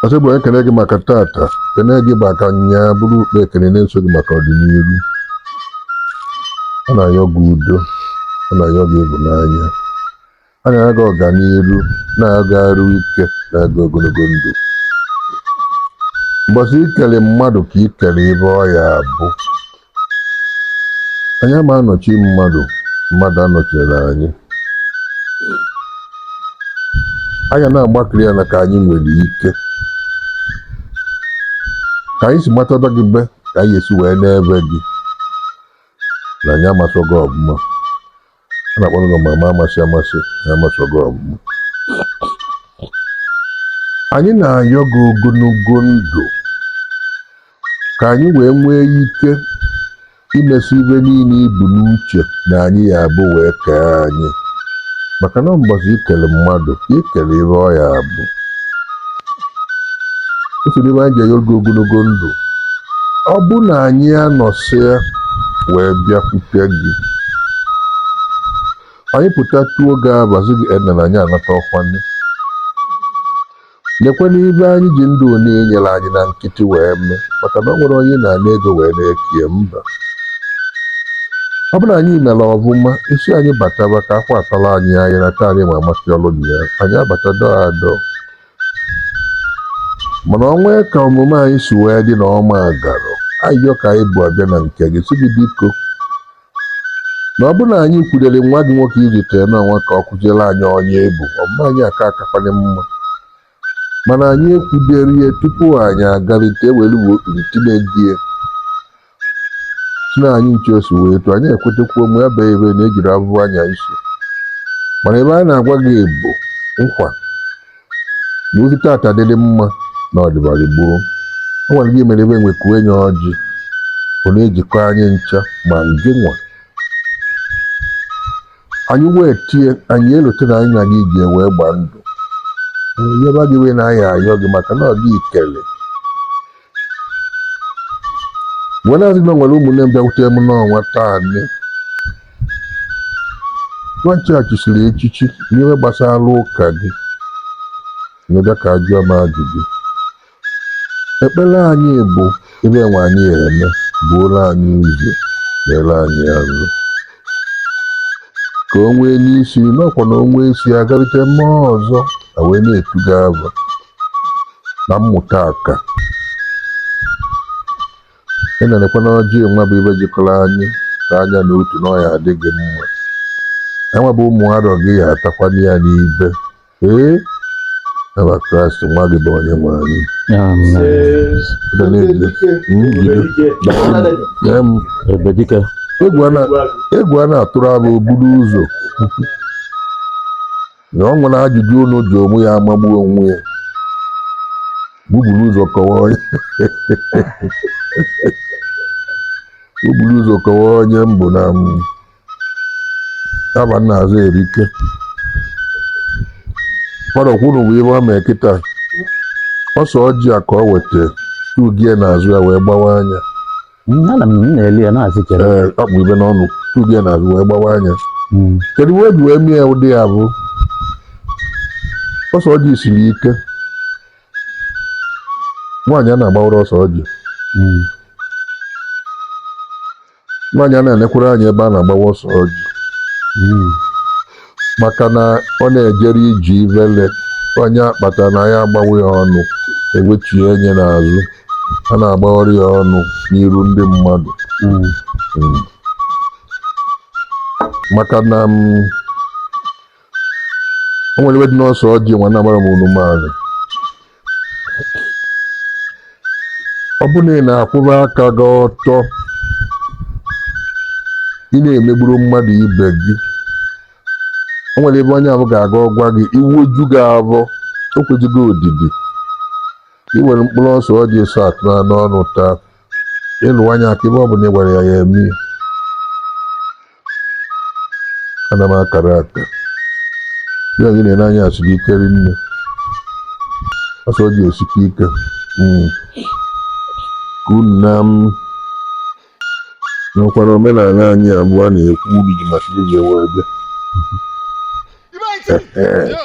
ọsị bụ ekene gị maka tata kene gị maka nya bụrụ ukpe ekene na-eso gị maka ọdịniru a na-ayọ gị udo a na-ayọ gị ịhụnanya a na-ayọ gị ọganiru na-ayọ gị arụ ike na-ayọ gị ogologo ndụ mbọsị i kele mmadụ ka i kele ive ọ ya-abụ anyị ama anọchi mmadụ mmadụ anọchina anyị anyị ya na-agbakiri ya na ka anyị nwere ike ka anyị si matada gị be ka anyị ya-esi wee na-eve gị na anyị amasọ gị ọvụma a na-akpọ gị amama amasị amasị na amasọ gị ọvụma anyị na-ayọ gị ogologo ndụ ka anyị wee nwee ike imesi ive niile i bu n'uche na anyị ya-abụ wee kee anyị maka na mbọsị i kele mmadụ i kele ive ọ ya-abụ ọ bụ ive anyị ji ayọ gị ogologo ndụ ọ bụ na anyị anọsịa wee bịakwute gị anyị pụta tuo gị abazi gị ena na anyị anata ọkwa ndị lekwe nụ ive anyị ji ndụ onye nyere anyị na nkịtị wee mee maka na o nwerọ onye na-ana ego wee na-ekie mba ọ bụrụ na anyị mere ọvụma ị sị anyị bataba ka akwa atala anyị anyị na taa anyị ma amasị ọrụ dị ya anyị abata dọọ adọọ mana o nwee ka omume anyị si wee dị na ọma agarọ ayịyọ ka anyị bu abịa na nke gị sị gị biko na ọ bụ na anyị kwudere nwa gị nwoke i zitere n'ụwa ka ọ kụziere anyị onye ebu omume anyị aka akakwanye mma mana anyị ekwuderọ ya tupu anyị agarịte e were uwe okpiri tinye gị si na anyị ncha si wee tụ anyị ekwetekwuo mgbe ebe ebe na ejiri abụbụ anya isi mana ive a na-agwa gị bụ n'ọkwa na ozi tata dịrị mma na ọ dịbara gboo ọ gwara gị mere ebe enwe kuo enye ọjị ọ na-ejikọ anyị ncha ma gị nwa anyị wee tie anyị elote na anyị na gị ji wee gbaa ndụ yaba anyị ji wee na-ayọ gị maka na ọ dị ikele wee na-asị na e nwere ụmụnne m bịakwute m n'ọnwa taa nne nwachi a chisiri echichi n'ihe gbasara ụka gị na-abịa ka a jụọ m ajụjụ ekpere anyị bụ ive enwe anyị eme buoro anyị ụzọ kpeere anyị azụ ka o nwee n'isi n'ọkwa na o nwee isi agarịte mmụọ ọzọ e wee na-etu gị ava na mmụta aka ị na-elekwa na ọjị nwa bụ ive jikọrọ anyị ka anya na otu n'ọya adịghị mma enwe bụ ụmụ arọ gị ya atakwala ya n'ibe ee ava kraịst nwa gị bụ onye nwe anyị egwu a na-atụrụ abụ buru ụzọ na ọ nwere ajụjụ unu ji onwe ya amagbu onwe ya buburu ụzọ kọwa onye buburu ụzọ kọwa onye mbụ na m yaba nna azụ erike fada kwuru bụ ihe ọ mee kịta ose ọjị a ka ọ weta tugie n'azụ ya wee gbawaa nya Mm, ana m m na-eli ya na-asị chere ee akpụ ibe n'ọnụ tubi ya n'azụ wee gbawaa nya Mm, kedu ihe e ji wee mie ụdị ya bụ ose ọjị siri ike nwaanyị ana-agbawarọ ose ọjị mm, nwaanyị ana-enekwarọ anya ebe a na-agbawa ose ọjị mm, maka na ọ na-ejere iji ivele onye akpata na ya agbawa ya ọnụ ewechie enye n'azụ ana-agbawarọ ya ọnụ n'iru ndị mmadụ mm. Mm. maka na m mm, o nwere ive dị n'ose ọjị nwa na-agbara m unu maazị ọ bụrụ na ị na-akwụba aka gị ọtọ ị na-emegburu mmadụ ibe gị o nwere ebe onye ahụ ga-aga ọ gwa gị iwe ju gị avọ o kwezighi odidi i were mkpụrụ ose ọjị asaa tụọ n'ọnụ taa ị lụọ nya aka ive ọ bụla ị gwara ya ya eme ya ana m akara aka ya gị na-ele anya siri ike rinne ose ọjị esikwa ike Mm. ka unu na m nwekwara omenala anyị abụọ na-ekwu uru ji maka iji wee bịa Ibe anyị tiri. Yo.